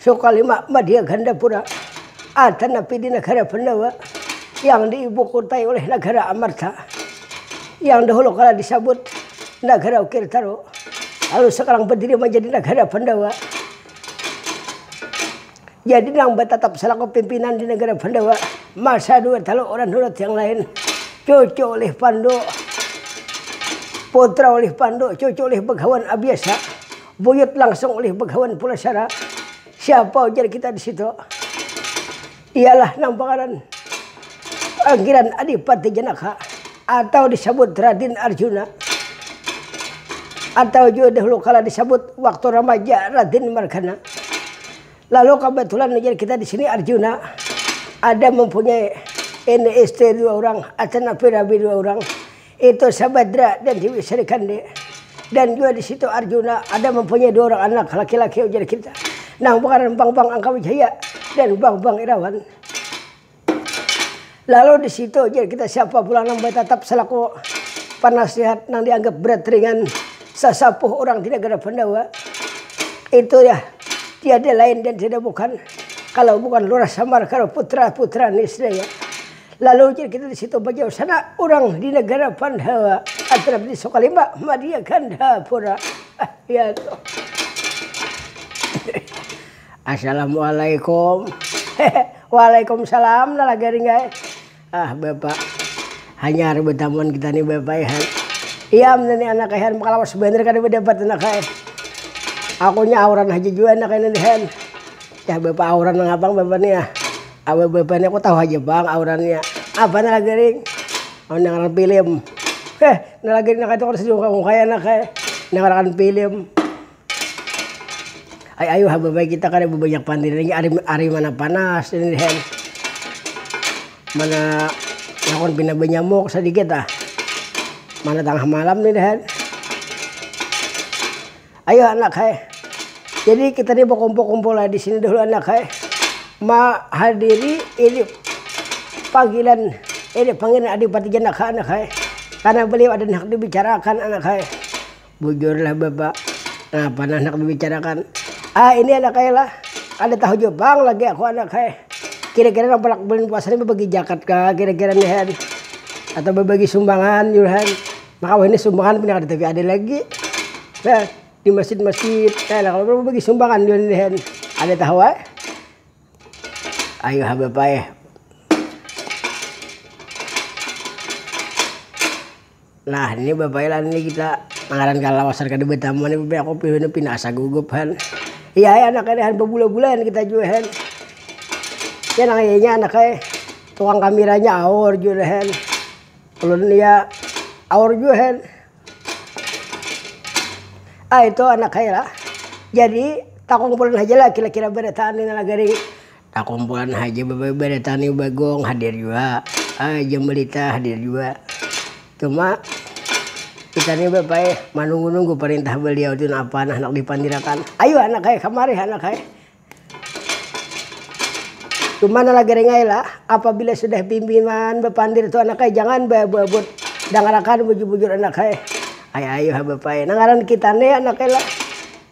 Sakali ma madia Gandapura, ada napi di nagara Pandawa yang di ibu kotai oleh nagara Amarta, yang dahulu kala di sabut nagara Ukir Taru, lalu sakarang badiri manjadi nagara Pandawa. Jadi nang batatap salaku pimpinan di nagara Pandawa masa dua talu orang Nurut yang lain, cucu ulih Pandu, putra ulih Pandu, cucu ulih Bagawan Abiasa. Buyut langsung ulih bagawan pula sara. Siapa ujar kita di situ? Ialah nang pangaran panggilan Adipati Janaka atau disabut Radin Arjuna atau jua dahulu kala disabut waktu ramaja Radin Margana. Lalu kabetulan ujar kita di sini Arjuna ada mempunyai ini isteri dua urang, acan api rabi dua urang. Itu Sabadra dan Dewi Sarikandi. Dan jua di situ Arjuna ada mempunyai dua orang anak laki-laki ujar kita. Nang pengaran Bangbang Angka Wijaya dan Bangbang Irawan. Lalu di situ ujar kita siapa pulang nang batatap salaku panasihat nang dianggap berat ringan sasapuh urang di nagara Pandawa. Itu ya tiada lain dan tiada bukan kalau bukan Lurah Samar karo putra-putra niscaya. Lalu jar kita disitu bajauh sana urang di negara Pandawa atrap di Sukalimba madia ganda pura. Ah, ya tuh. Assalamualaikum. Waalaikumsalam nala garing ai. Ah, Bapak. Hanyar betamuan kita nih Bapak ihan. Iya, ini anak ihan makalawas banar kada badapat anak ai. Akunya auran haja jua anak ini ihan. Dah bapa auran nang pang bapa nih ah. Awe bapa nih aku tahu haja pang aurannya. Apa nih lagi ring? Amun nang ngaran pilim. Heh nih lagi nih naka itu kada sadiungkai-ungkai anak ai. Nang ngaran pilim. Ai ayuh ha bapa kita kada babanyak pandiri lagi ari ari mana panas ini nih hen. Mana lakon pina banyamuk sadikit ah. Mana tangah malam ini nih hen. Ayo anak hai, jadi kita ni bakumpul-kumpul lah di sini dahulu anak hai, mahadiri ini panggilan ini panggilan Adipati Janak ha anak hai, karna beliau ada nang handak dibicarakan anak hai. Bujur lah bapak, napa nang handak dibicarakan, ah ini anak hai lah, kada tahu jua pang lagi aku anak hai, kira-kira nang palak bulan puasa ni bebagi jakat kah kira-kira ni han, atau bebagi sumbangan yu han. Maka wahini sumbangan pina kada tapi ada lagi nah di masjid-masjid nah kalau bagi sumbangan di leher ada tahu eh ayo ha bapak eh nah ini bapak eh ini kita mangaran kalau asar kada bertamu ini bapak aku pilih pina asa gugup han iya eh anak ini han bebula-bula kita juga han ya nang iya anak eh tukang kameranya aur juga han Ulun lia aur jua hen. Ah itu anak hai lah. Jadi takumpulan haja lah kira kira barataan ini lah gari. Takumpulan haja barataan ini bagong hadir jua. Ah jam balita hadir jua. Cuma kita ni bapa ai manunggu nunggu parintah baliau tu napa nah handak dipandirakan. Ayu anak hai kamari anak hai. Cuma nala garing ai lah, apabila sudah bimbingan bapandir tu anak ai jangan baabut-abut dangar akan bujur-bujur anak ai, ai ayuh ha bapa ai, nang ngaran kita ni anak ai lah,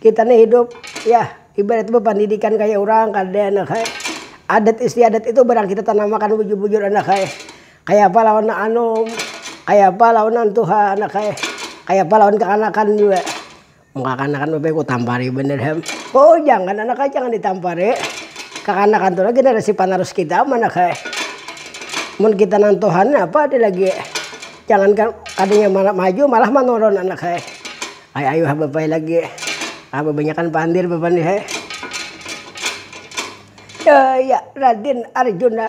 kita ni hidup yah ibaratnya bapandidikan kaya urang kada anak ai, adat istiadat itu barang kita tanam akan bujur-bujur anak ai, kaya apa lawan nang anum, kaya apa lawan nang tuha anak ai, kaya apa lawan kakanakan jua. Kekanakan tu baik kutampari banar ham, oh jangan anak ai jangan ditampari, kekanakan tu lagi generasi panerus kita am anak ai, mun kita nang tuha ni apa ada lagi, jangankan kadanya maju malah manurun anak ai, ai ayu ha bapai lagi, ha babanyakan pandir bapa ni hai, ya radin arjuna.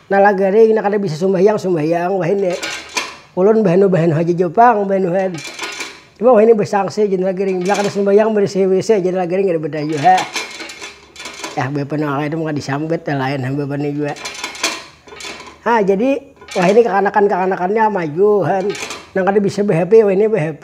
Nala garing nang kada bisa sumbahyang sumbahyang wahini ulun bahanu bahanu haja jua pang bahanuhan cuma wahini basangsi jar nala garing bila kada sumbahyang barisi wc jar nala garing kada badah jua ha yah bapa nang lain maka disambat nang lain hamba pa ni jua ha jadi wahini kakanakan kakanakannya maju han nang kada bisa ba hp wahini ba hp.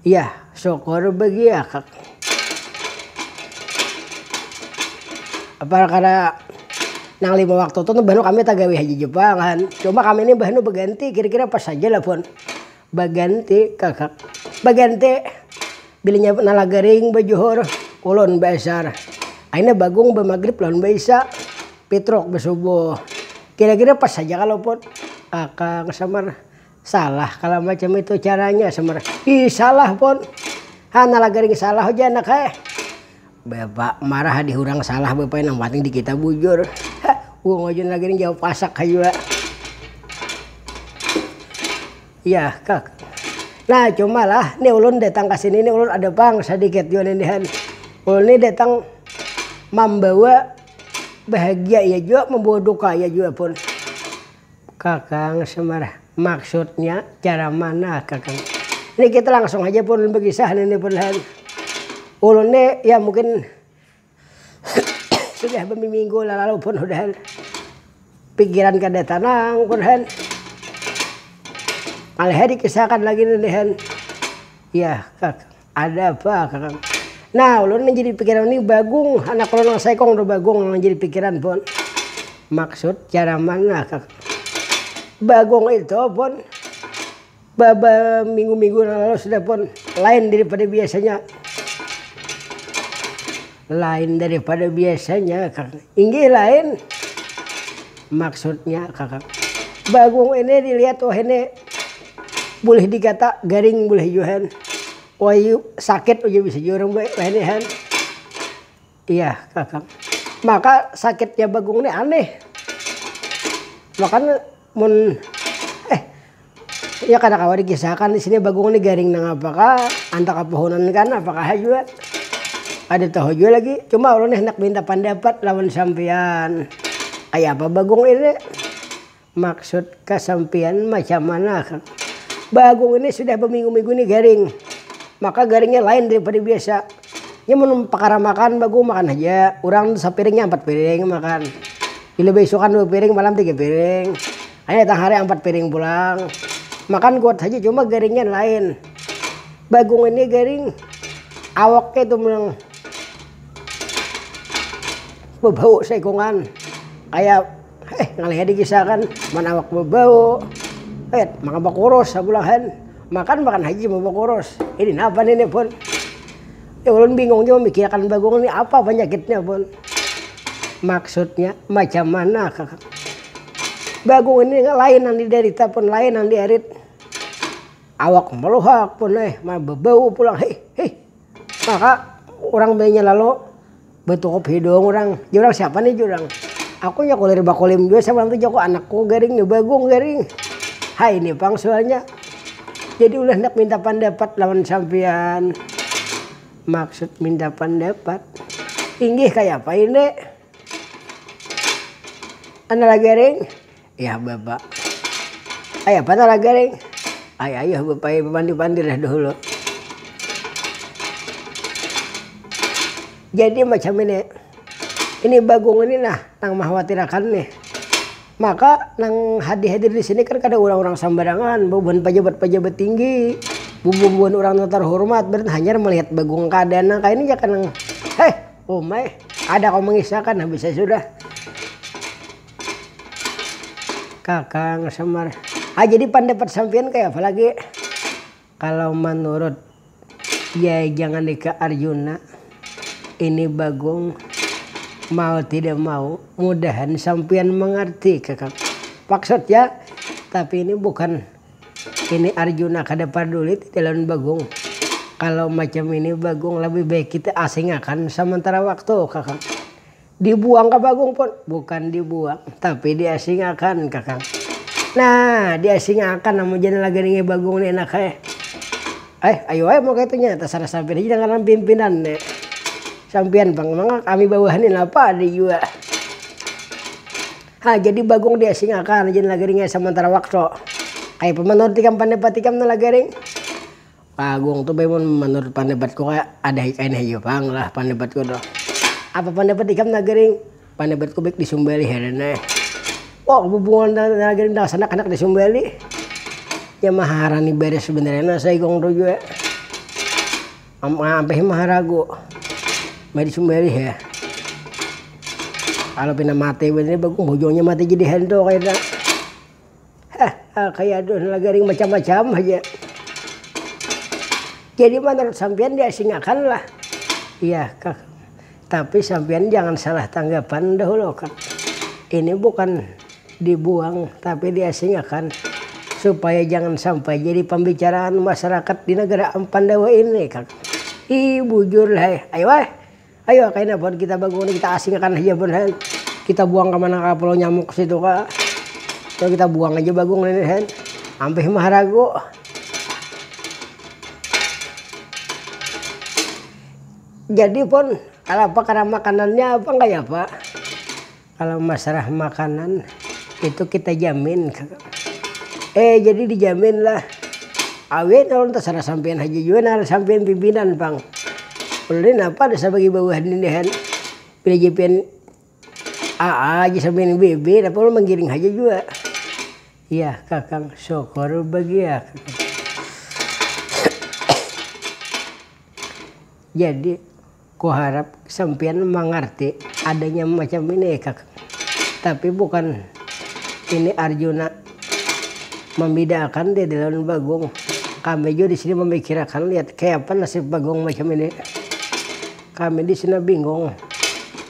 Yah, syukur bagiya kak. Parkara nang lima waktu tu mbah nu kami tagawi haja ja pang han. Cuma kami ni mbah nu baganti kira-kira pas haja lah pun. Baganti kak. Baganti bilinya nala garing bajuhur, ulun baasar. Akhirnya bagung bamagrib lawan baisya, pitruk basubuh. Kira-kira pas haja ka luput akang samar. Salah kalo macam itu caranya semer ih salah pon hana lagaring salah haja anak hae bapa marah hadi hurang salah bapa nang panting dikita bujur ha wong wajun lagaring jauh pasak ha jua yah kak nah cuma lah ni ulun datang kasini ni ulun ada pang sadikit jua ini han ulun ni datang mambawa bahagia iya jua mambawa duka iya jua pun. Kakang Semar, Maksudnya cara mana kakang? Ini kita langsung haja pun bakisah nini pun lahan. Ulun ni ya mungkin sudah bamiminggu lalalu pun udahan. Pikiran kada tanang pun han. Alih ai dikisah akan lagi ninihan. Yah kakang. Ada apa kakang. Nah ulun manjadi pikiran ni bagung anak ulun nang saikung tu bagung nang manjadi pikiran pun. Maksud cara mana kak. Bagung itu pun baminggu-minggu nang lalu sudah pun lain daripada biasanya. Lain dari pada biasanya kak. Inggih lain maksudnya kak. Bagung ini dilihat wahini bulih digata garing bulih jua han. Wahyu sakit ujar bisa jua urang wahini han. Iya kak. Maka sakitnya bagung nih aneh. Maka. Mun eh ya kada kawa dikisahkan di sini bagong ni garing nang apakah antak kapohonan kan apakah jua kada tahu jua lagi cuma ulun ni handak minta pandapat lawan sampiyan kaya apa bagong ini maksud ka sampiyan macam mana kah bagong ini sudah baminggu-minggu ni garing maka garingnya lain dari pada biasa. Nya mun pakara makan bagu makan haja urang sapiring nya ampat piring makan bila baisukan dua piring malam tiga piring hanyar datang hari ampat piring pulang makan kuat haja cuma garingnya lain bagung ini garing awaknya itu nang bebau saikungan kaya Eh, ngaliha digisakan, man awak babau. Eh, maka bakurus sabulahan. Makan makan haji mau bakurus. Ini napa ini pun. Ya ulun bingung jua mikirakan bagung ini apa panyakitnya pun. Maksudnya macam mana kak. Bagung ini lain nang didarita pun lain nang diarit. Awak maluhak pun eh, man babau pulang. Hih hih. Maka urang bininya lalu. Betukup hidung urang, jurang siapa nih jurang. Aku nya kulir bakulim jua sama ntu jaku anakku garing nih bagung garing. Ha ini pang sualnya. Jadi ulih handak minta pandapat lawan sampian. Maksud minta pandapat. Inggih kayapa ini. Ana lagi garing. Yah bapa. Ai apa tah laga nih. Ai ayuh bapa ai bapandir-pandir dah dahulu. Jadi macam ini, ini bagung ini nah nang makhawatirakan nih. Maka nang hadir-hadir di sini kan kada urang-urang sambarangan, bubuhan pajabat-pajabat tinggi, bubuhan urang nang tarhurmat, berarti hanyar melihat bagung keadaan nang kaya ini ja kah nang, heh, uma eh, kada kawa mangisahkan habis ai sudah. Kakang Semar, ah jadi pandapat sampiyan kaya apa lagi? Kalau manurut Yai Jangandika Arjuna, ini Bagong mau tidak mau mudahan sampiyan mangarti kakang. Maksudnya, tapi ini bukan ini Arjuna kada parduli tadi lawan Bagong. Kalau macam ini Bagong lebih baik kita asingakan samantara waktu kakang. Dibuang ka bagung pun, bukan dibuang tapi diasingakan kakang. Nah diasingakan amun jar nalaganingnya bagung ni enak ai. Eh ayu ai mun kaitu nya tasarah sampian haja nang ngaran pimpinan nih. Sampian pang mangak kami bawahan ni napa ada jua. Ha jadi bagung diasingakan jar nalaganingnya samantara waktu. Kaya apa manurut ikam pandapati kam nalaganing? Pak Agung tu mun manurut pandapatku kaya ada kain hayu pang lah pandapatku tu. Apa pandapat ikam Nagaring? Pandapat-ku baik disumbali haja nah. Wah bubungan Nagaring lawan Sanak handak disumbali. Ya maharani banar sebenarnya nah si Agung tu jua. Ampih maharagu. Mari disumbali ha. Kalo pina mati banar ni Bagong Bojongnya mati jadi hantu kaytu nah. garing macam macam haja. Jadi manurut sampiyan diasingakanlah iya kak. Tapi sampiyan jangan salah tanggapan dahulu kak. Ini bukan dibuang tapi diasingakan supaya jangan sampai jadi pambicaraan masyarakat di negara ampandawa ini kak. Ih bujurlah eh. Ayo kaina buhan kita bagu ni kita asing akan haja buhan hen. Kita buang ka mana ka pulau nyamuk situ ka. Coba kita buang haja bagu ngini hen. Ampih maharagu. Jadi pon, kanapa karena makanannya apa nggak ya pak? Kalau masalah makanan itu kita jamin eh jadi dijamin lah awet lawan tasarah sampian haja jua nah sampian pimpinan pang ulun ni napa dasar bagi bawahan ini han pilih ja pian aa aja sampian bb napa ulun manggiring haja jua yah kakang syukur bagian jadi. Ku harap sampiyan mangarti adanya macam ini ikak. Tapi bukan ini Arjuna mambidaakan Dede lawan Bagong. Kami jua di sini mamikirakan liat kayapa nasib Bagong macam ini. Kami di sini bingung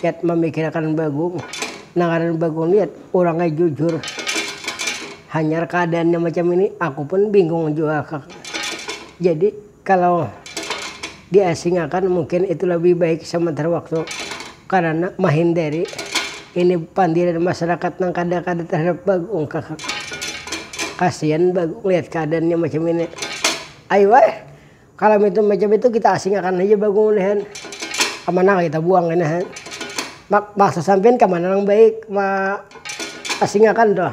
liat mamikirakan Bagong. Nang ngaran Bagong liat urangnya jujur. Hanyar kaadaannya macam ini aku pun bingung jua kak. Jadi. Kalau di asing akan mungkin itu lebih baik sementara waktu karana mahindari ini pandiran masyarakat nang kada kada terhadap bagung kakak. Kasian bagung lihat keadaannya macam ini. Ai weh, kalau mitu macam itu kita asing akan haja bagung ini han. Kamanakah kita buang ini han. Mak, maksud sampian kamana nang baik ma asing akan tuh.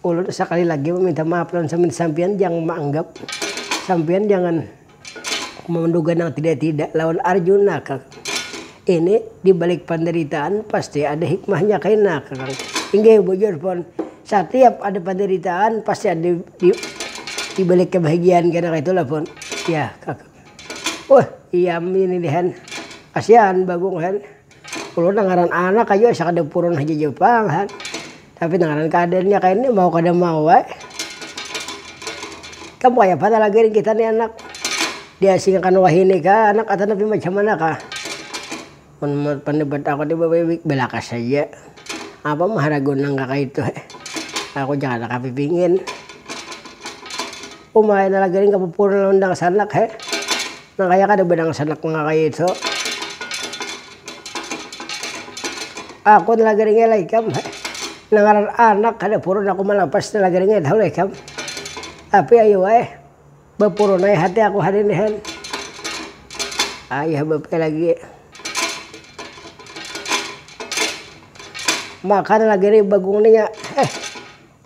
Ulun sakali lagi maminta maaf lawan sampian jang maanggap sampian jangan manduga nang tidak-tidak lawan Arjuna kakang. Ini dibalik pandaritaan pasti ada hikmahnya kaina kakang. Inggih bujur pun, satiap ada pandaritaan pasti ada dibalik kabahagiaan kena kaitulah pun. Yah kakang. Wah, iam ini dihan kasian Bagong han. Ulun nang ngaran anak aja asa kada purun haja ja pang ha. Tapi nang ngaran keadaannya kaya ni mau kada mau ai. Ikam kayapa talagi nih kita nih anak. Diasingakan wahini kah anak atau tapi macam mana kah. Mun pendapat aku nih babibi belakas haja. Apa mahara guna nang kakaitu he. Aku ja kada kapipingin. Uma ai nang lagi nih kapupurun lawan dangsanak he. Nang kaya kada badangsanak nang kaya itu. Aku talagaringnya lah ikam. Nang ngaran anak kada purun aku malapas talagaringnya tahu lah ikam. Tapi ayu ai, bapurun ai hati aku hari ini han. Ayah bapia lagi. Maka talagiri bagung ni nya. Eh,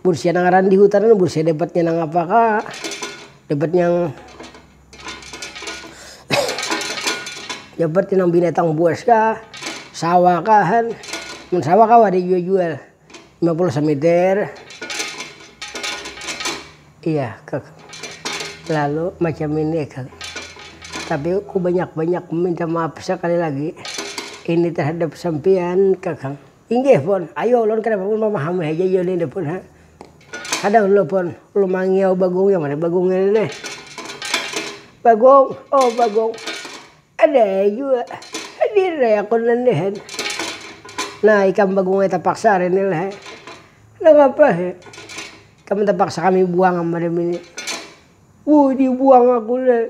mun sia nang ngaran di hutan ni mun sia dapatnya nang apa kah. Dapat yang. ya berarti nang binatang buas kah sawah kahan mun sawah kawa ada jual jual 50 semeter iya kak lalu macam ini kak tapi aku banyak banyak meminta maaf sekali lagi ini terhadap sampean kakang Inggih pun, ayu ulun kada pun mamahami haja iya nini pun ha. Kada ulun pun, ulun mangiau bagong yang mana bagong ini nih. Bagong, oh bagong ada ai jua hadir ai aku nini ha. Nah ikam bagong ai tapaksa hari ini lah ha. Nangapa ha, ikam tapaksa kami buang am madam ini. Wuh dibuang aku nih.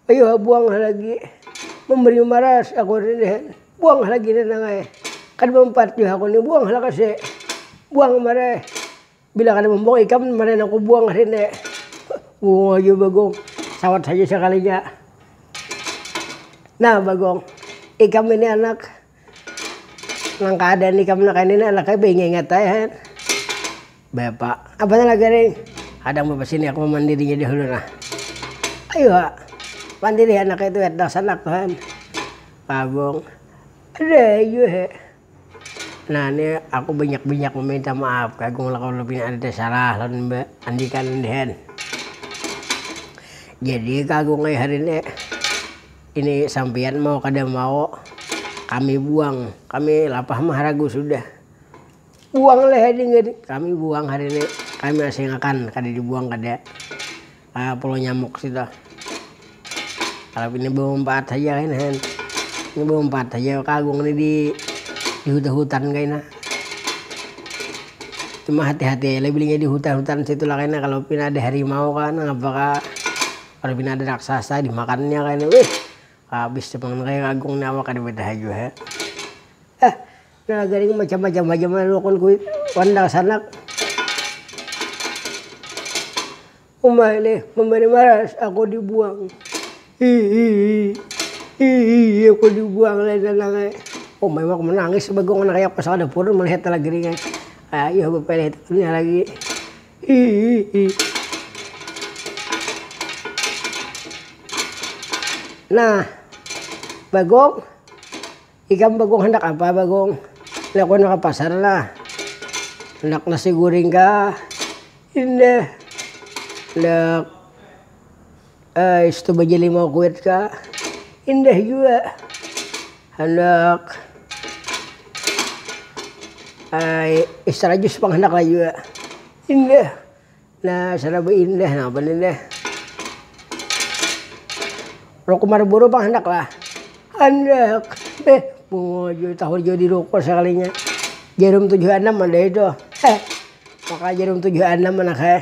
Ayu ha buang ha lagi. Memberi maras aku rinihan. Buang ha lagi nanang ai. Kada mampat jua aku ni buang ha lakasi. Buang ha mare. Bila kada mambuang ikam mare nang ku buang ha rini. Bungul ha jua bagong. Sawat haja sakalinya. Nah bagong ikam ini anak. Nang kada nikam nang kaini anak ai baingat-ingat ai ha. Bapa, apa ni lagi nih? Hadang bapa sini aku mamandirinya dahulu nah. Ayu ha, pandiri ha anak ai tu wetdah sanak tu ha. Pabung, ada jua ha. Nah ni aku banyak-banyak maminta maaf ka agung lah kalau pina ada tasalah lawan mbak andika nang dihan. Jadi ka agung ai hari ni. Ini sampiyan mau kada mau kami buang, kami lapah maharagu sudah. Buang leh ading gini, kami buang hari ini, kami asing akan kada dibuang kada ka pulau nyamuk situ. Kalau ini bamanpaat haja kaina hen, ini bamanpaat haja ka agung ini di hutan hutan kaina. Cuma hati hati aja lah bilingnya di hutan hutan situ lah kaina, kalau pina ada harimau kah nangapa kah. Kada pina ada raksasa dimakannya kayni wih. Habis tu pangan kaya agung ni awak kada batahan jua ha. Heh nang garing macam macam haja manukun kuwi wan dangsanak. Uma ini memberi maras aku dibuang hihihi hihihi aku dibuang oleh nanang ai. Uma iwak manangis bagong nang kaya pas kada purun melihat talagiring ai. Ayuh bapeleh tu inya lagi. Nah, Bagong, ikam Bagong handak apa Bagong? Nah aku handak ka pasar nah, handak nasi guring kah? Indah, handak. Ais tu bajalimau kuit ka, indah jua handak ai es rajus pang handak ai jua indah nah sana baindah napa ni dah ruku marburu pang handak lah handak eh bungo jua tahun jua di ruku sakalinya jarum tujuh anam ada itu eh maka jarum tujuh anam anak ai.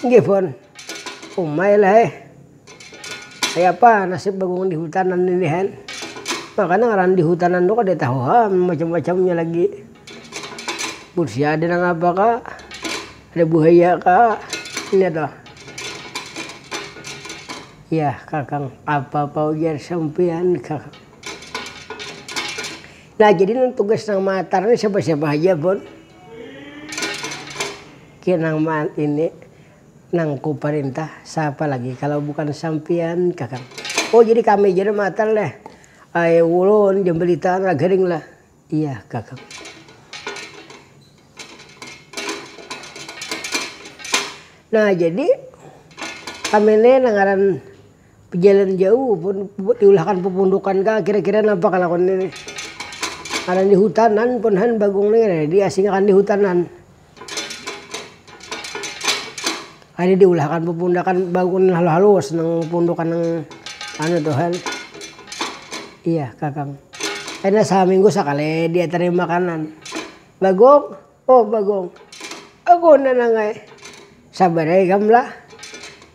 Nggih pun, umai lah eh. Kayapa nasib bagong di hutanan ini han. Makanya ngaran di hutanan tu kada tahu ha macam-macamnya lagi. Busi ada nang apa ka, ada buhaya ka, ini toh. Yah kakang, apa-apa ujar sampiyan kakang. Nah jadi nang tugas nang matar ni siapa-siapa haja pun. Ki nang maan ini nang ku parintah sapa lagi kalau bukan sampian kakang. Oh jadi kami ja nang maatan leh. Ai ulun ja baritaan lah garing lah. Iya kakang. Nah jadi kami ni nang ngaran Bejalan jauh buat diulahkan pupundukan ka kira-kira napa kalakuan ini karna ini hutanan pun han bagung ni kena diasingakan di hutanan kaya diulahkan pupundakan bagung nang halus-halus nang pupundukan nang anu tu han iya kakang kena saminggu sakali diatarin makanan bagung oh bagung aku nang nangai sabar ae ikam lah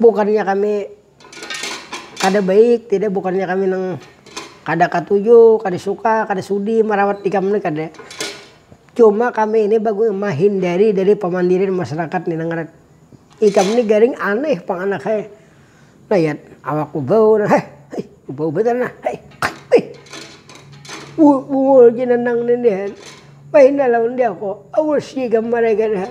Bukannya kami kada baik, tidak, bukannya kami nang kada katuju, kada suka, kada sudi marawat ikam ni, kada. Cuma kami ini baguna mahindari dari pamandirian masarakat ni nang ngaran ikam ni garing aneh pang anak ai. Nayat awak bubau nah, heh, hih, bubau banar nah, heh, hih, bungul ja nang nini han, bahinda lawan diaku, awas ja ikam maraikan.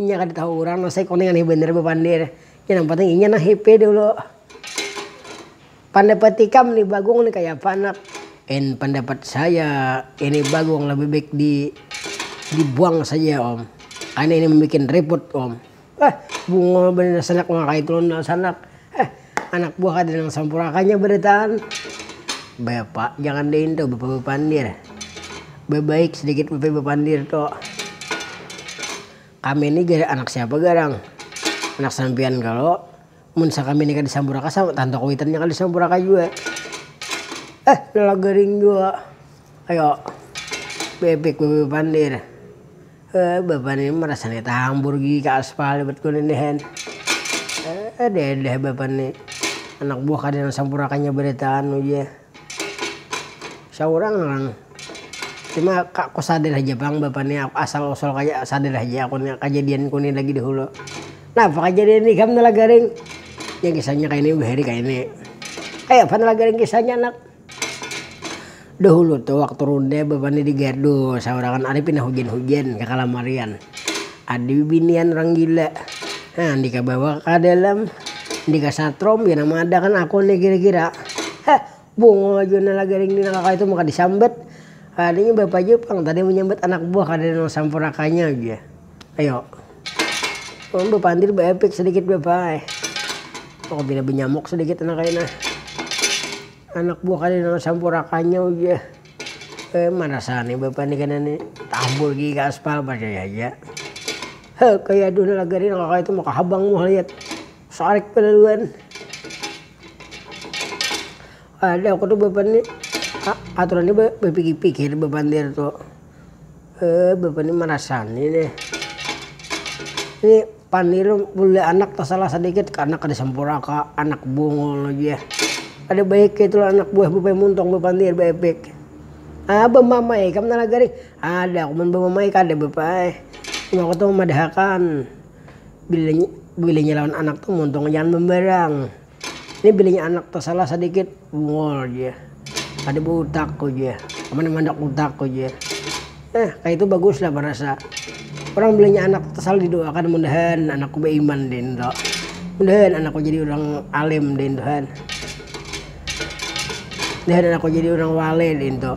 Inya kada tahu urang Nosai koni aneh banar bapandir. Nya nang panting inya nang happy dulu. Pandapat ikam ni Bagong ni kayapa anak? En, pandapat saya ini Bagong lebih baik di dibuang saja om. Karena ini membikin riput om. Hah, bungul banar sanak maka itu lawan sanak. Hah, Anak buah kada nang sampurna kanya barataan. Bapa jangan daintu bapa bapandir. Babaik sadikit bapa bapandir tu. Kami ni jar anak siapa garang? Anak sampiyan kalo? Mun sakami ni kada sampurna ka sama tanto kuwitan nya kada sampurna ka jua. Eh lala garing jua. Ayo. Baepik bapa bapandir. Eh bapak ni rasanya tahambur gigi ka aspal ibat ku nih deh. Eh deh bapak ni anak buah kada nang sampurnakan nya baritaan uji. Saurang nang tu mah ka ku sadar haja pang bapak ni asal usul kaya sadar haja aku ni kajadian ku ni lagi dahulu. Napa kajadian ikam Nala Garing? Nya kisahnya kaini bahari kaini. Kayapa Nala Garing kisahnya Anak? Dahulu tu waktu runda bapani di gardu saurangan ari pina hujan-hujan kakalamarian. Ada bibinian urang gila. Nah nang dikabawa ka dalam, nang dikasatrom ya nang mada kan aku ni kira-kira. Heh, bungul jua nang lagi ring dina kakawitu maka disambat. Kadanya bapa ja pang tadi manyambat anak buah kadada nang sampurna kanya ujar. Ayo. Ulun bapandir baepik sadikit bapai. Apabila banyamuk sadikit anak kaina. Anak buah kada nang sampurakannya ujah. Eh marasa ni bapai ni kaina ni. Tampur gigi ka aspal, parcaya haja. Ha kaya aduh nang lagari nang kakayatu maka habang muha liat. Sarik balaluan. Kada aku tu bapai ni, aturan ni bapikir-pikir bapandir tu. Eh, bapak ini merasani nih. Ini paniru boleh anak tersalah sedikit ke anak kada sempurna ke anak bungul aja. Ada baik itu anak buah bapak muntong bapandir baepik. Ah, bamamai kam tanah garing. Ada aku bamamai kada bapak. Cuma aku tuh madahakan bila bilanya lawan anak tuh muntong jangan membarang. Ini bininya anak tasalah sadikit bungul ja kada bautak ku ja aman nang handak utak ku ja nah kaitu baguslah barasa urang bininya anak tasalah didoakan mudahan anakku baiman din to mudahan anakku jadi urang alim din tu kan mudahan anakku jadi urang wale din tu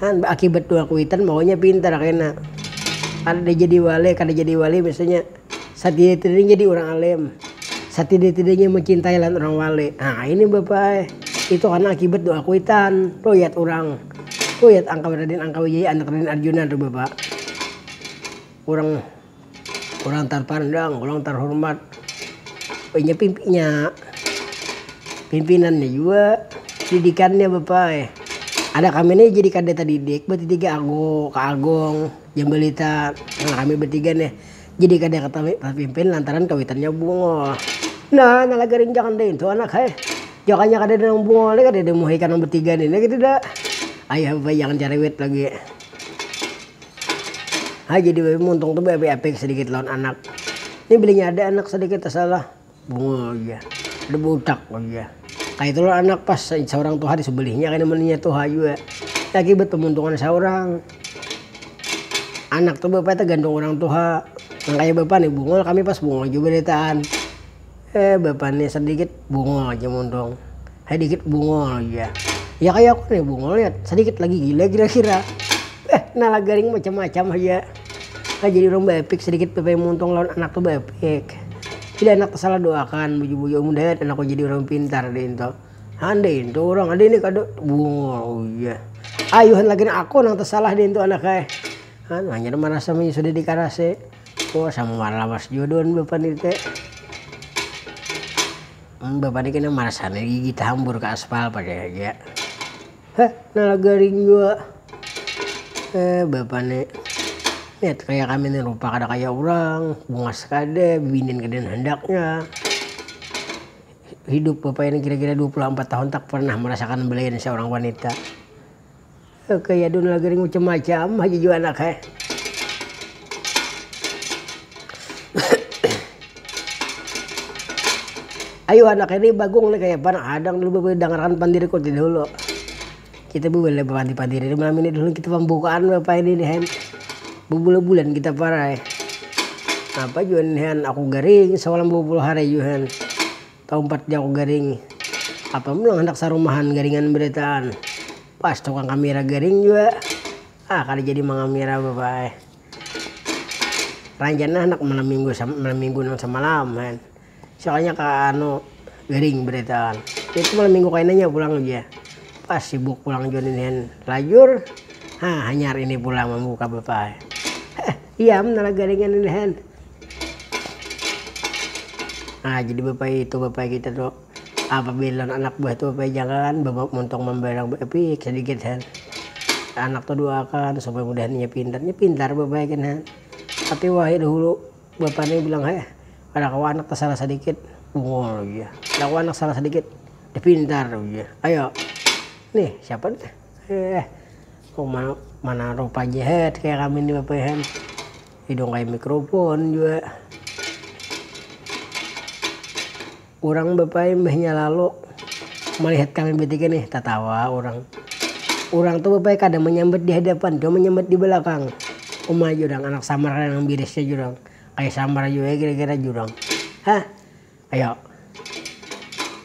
kan baakibat dua kuitan maunya pintar kena kada jadi wale kada jadi wali biasanya. satidai-tidainya jadi urang alim, satidai-tidainya mencintai lawan urang wali. Nah, ini Bapa ai, itu karna akibat doa kuitan, ruyat urang. Ruyat angka Raden Angkawijaya anak Raden Arjuna tu Bapa. Urang urang tarpandang, urang tarhormat. Inya pimp inya pimpinannya jua, didikannya Bapa ai. Ada kami nih jadi kada tadidik, batiga Agung, Kak Agung, Jambalita, nah kami batiga nih. Jadi kada katawi tapimpin lantaran kawitannya bungul. Nah, nala garing jangan daintu anak hai. Jakanya kadada nang bungul ni kadada muhai ikam nang batiga ni niki tidak. Ayah bapak jangan cariwit lagi. Hai jadi bapak muntung tu beapik-apik sedikit lawan anak. Ni bilinya ada anak sedikit tasalah. Bunga iya, kada budak wan iya. Kayatu lawan anak pas saurang tuha di sebelihnya kena mun inya tuha jua. Lagi batamuntungan saurang. Anak tu bapa tagantung urang tuha. Nang kaya bapa ni Bungul kami pas Bungul jua badataan. Eh bapa ni sadikit Bungul haja muntung. Hei dikit bungul ja. Ya kaya aku nih bungul ya sedikit lagi gila kira-kira. Eh, nala garing macam-macam aja. Nah, jadi orang baepik sedikit PP muntung lawan anak tuh baepik. Bila anak tuh salah doakan, buju-buju amun dayat anakku jadi orang pintar deh itu. Anda itu orang ada ini kada bungul oh iya. Ayuhan lagi aku nang tersalah deh itu anak eh. Anu hanya merasa sudah dikarase. Oh sama lawas jodoh bapak nite. Bapak ni kena marasan ai gigi tahambur ka aspal pakai haja. Heh nala garing jua. Eh bapak ni. Lihat kaya kami ni rupa kada kaya urang, bungas kada, bibinian kada handaknya. Hidup bapak ini kira-kira dua puluh ampat tahun tak pernah marasakan belayan seorang wanita. Oke ya dun lagi ringucem macam haja jua anak he. Ayu anak ini bagung nih kaya pan adang dulu bebele dangarkan pandiri koti dulu. Kita bebele pandi pandiri di malam ini dulu kita pembukaan apa ini nih hen. Bebule bulan kita parai. Apa jua nih hen aku garing semalam 20 hari jua hen. Taumpat ja ku garing. Apa pulang handak sarumahan garingan beritaan. Pas tukang kamira garing jua. Ah kada jadi mangamira bapa ai. Rancana handak malam minggu sama malam minggu nang samalam kan. Soalnya ka anu garing beritaan. Itu malam minggu kainanya pulang ja. Pas sibuk pulang jua ninihan lajur. Hah hanyar ini pulang mambuka bapa ai. Heh. Iya am nara garingan ini han. Nah jadi bapak itu bapak kita tu apabila anak buah tu bapak jangan bawa montong mambarang baipik sedikit han. Anak tu doakan supaya mudahan inya pintar. Inya pintar bapak gin han. Tapi wahai dahulu bapak ni bilang heh kada kawa anak tasalah sadikit bungul ujar. Kada kawa anak salah sadikit dah pintar ujar. Ayo nih siapa nih. Heh, kuma mana rupa ja het kaya kami ni bapayahan. Hidung kaya mikrofon jua. Urang bapaya imbahnya lalu malihat kami batiga nih, tatawa urang. Urang tu bapaya kada manyambat di hadapan, cuma manyambat di balakang. Uma jurang, anak samar nang birisnya jurang. Kaya samar jua kira-kira jurang. Hah. Ayo.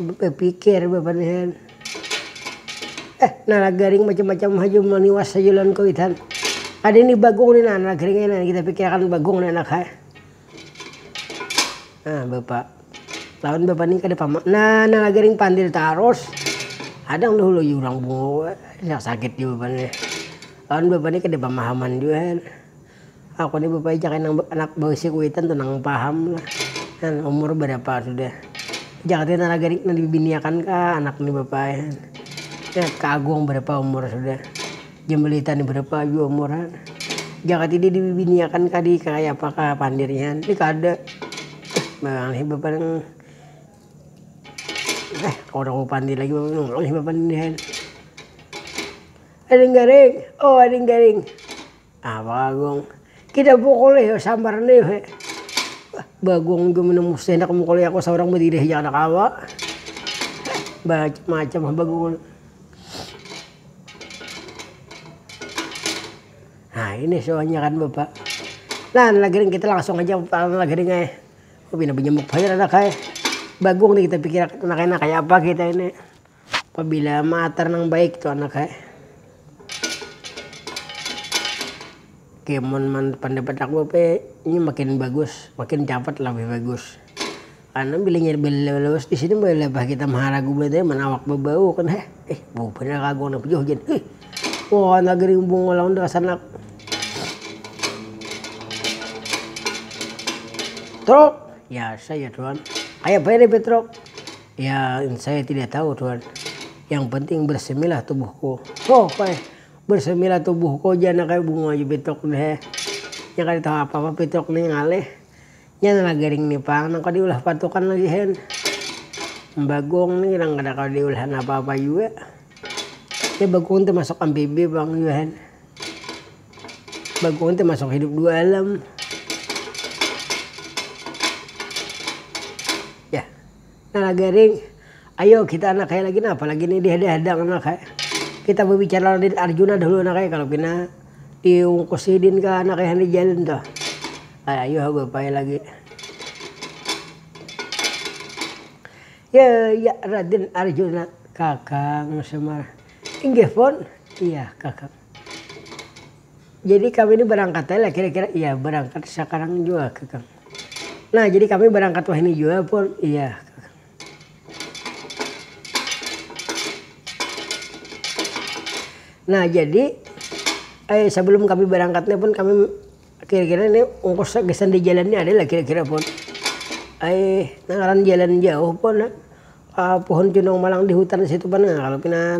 Bapikir babarisan. Eh, nalagaring macam-macam haja maniwas haja lawan kuitan. Ada ini bagong ni nah, nalagaring aja nah kita pikirakan bagong ni anak ai. Nah, Bapak. Lawan Bapak ni kada pama. Nah, nalagaring pandil tarus. Kadang dahulu yu urang bungul, sakit jua Bapak ni. Lawan Bapak ni kada pamahaman jua. Aku ni bapaijakan nang anak bausia kuitan tu nang paham lah. Nah, umur barapa sudah. Jaka tadi nara garing nang dibibiniakan kah anak ni bapa ai han. Nah, ka Agung barapa umur sudah. Jambalita ni barapa jua umur han. Jaka tadi dibibiniakan kah di kaya apa kah pandir nya han. Ni kada. Maulah bapa nang eh kada kawa pandir lagi bapa ni. Maulah bapa ni han. Ading garing, oh ading garing. Nah Bang Agung, Kida bukulih yo sambar ni he. Bagong jua mana musti handak mukulih aku saurang badiri haja kada kawa. Bamacam-macam ha Bagong. Nah ini suahnya kan Bapak. Nah nang lagi kita langsung haja nang lagi nih ngai. Pina banyamuk banar anak ai. Bagong nih kita pikirakan nang kaya apa kita ini. Pabila maatar nang baik tu anak ai. Oke mun pandapat aku hape ini makin bagus makin capat labih bagus karna bila inya balawat disini malihat kita maharagu banar amun awak babau kan heh ih bau banar lagu anak tu jar ih wah anak gini bungul awan tu rasa anak truk biasa jar wan kaya banar nih betruk. Ya, saya tidak tahu tuan. Yang penting bersemilah tubuhku. Oh, koi. Bersemilah tubuhku aja nak kayak bunga aja pitok deh. Yang kada tahu apa-apa pitok nih ngalih. Yang lah garing nih pang, nang kada diulah patukan lagi hen. Bagong nih nang kada kada diulahan apa-apa jua. Ya bagong tuh masuk ampibi pang jua hen. Bagong tuh masuk hidup dua alam. Nana Gering, Ayo kita anak ai lagi napa lagi ni dihadang-hadang anak ai. Kita babicara lawan Din Arjuna dahulu anak ai kalo pina diungkus sidin ka anak ai hanyar jalin tu. Ai ayu ha bapa ai lagi. Ya ya Raden Arjuna, kakang Semar, inggih pun, iya kakang. Jadi kami ni barangkat ai lah kira-kira, iya barangkat sakarang jua kakang. Nah, jadi kami berangkat wahini jua pun iya. Nah, jadi eh, sebelum kami berangkatnya pun kami kira-kira ini ongkos gesan di jalan ini ada lah kira-kira pun. Eh, nangaran jalan jauh pun eh, pohon cundung malang di hutan situ pun nah, kalau pina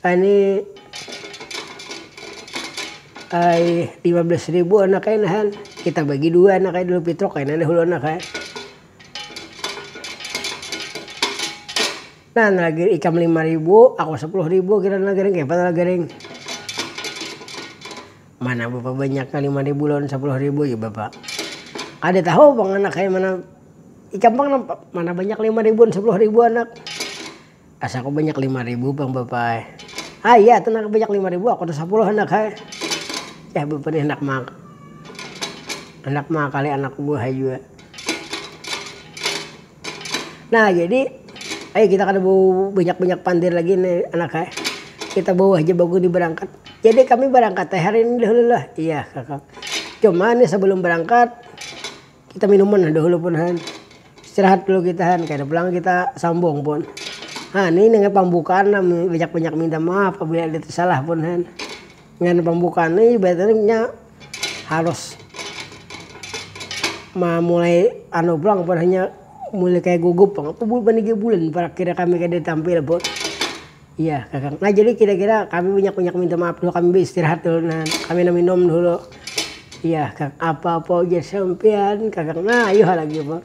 Ani ai lima belas ribu anak ai nahan kita bagi dua anak ai dulu pitruk kena dahulu anak ai nah lagi ikam lima ribu aku sepuluh ribu kira nah garing kaya apa lah garing mana bapa banyak nya lima ribu lawan sapuluh ribu jar bapa kada tahu pang anak ai mana ikam pang mana banyak lima ribu wan sapuluh ribu anak. Asa aku banyak lima ribu pang bapa ai. Ah iya tu nang banyak lima ribu aku tu sapuluh handak ai. Yah bapa ni handak ma handak maakali anakku buhai jua. Nah jadi ayu kita kada bau banyak-banyak pandir lagi ni anak ai, kita bawa haja baguni barangkat. Jadi kami barangkat ai hari ini dahulu lah. Iya kakak, cuma ni sabalum barangkat. Kita minuman nah dahulu pun han. Istirahat dulu kita han, kada pulang kita sambung pun. Ha ni nang pambukaan nah banyak-banyak minta maaf apabila ada tersalah pun han. Ngan pambukaan ni ibaratnya nya harus mamulai anu pulang pun hanya mulai kaya gugup pang. Apa bulik pandiga bulan parak kira kami kada tampil pun. Iya kakang, nah jadi kira kira kami banyak banyak minta maaf dulu kami beistirahat dulu nah kami nang minum dulu, iya kakang apa apa ujar sampian kakang nah ayuha lagi apa.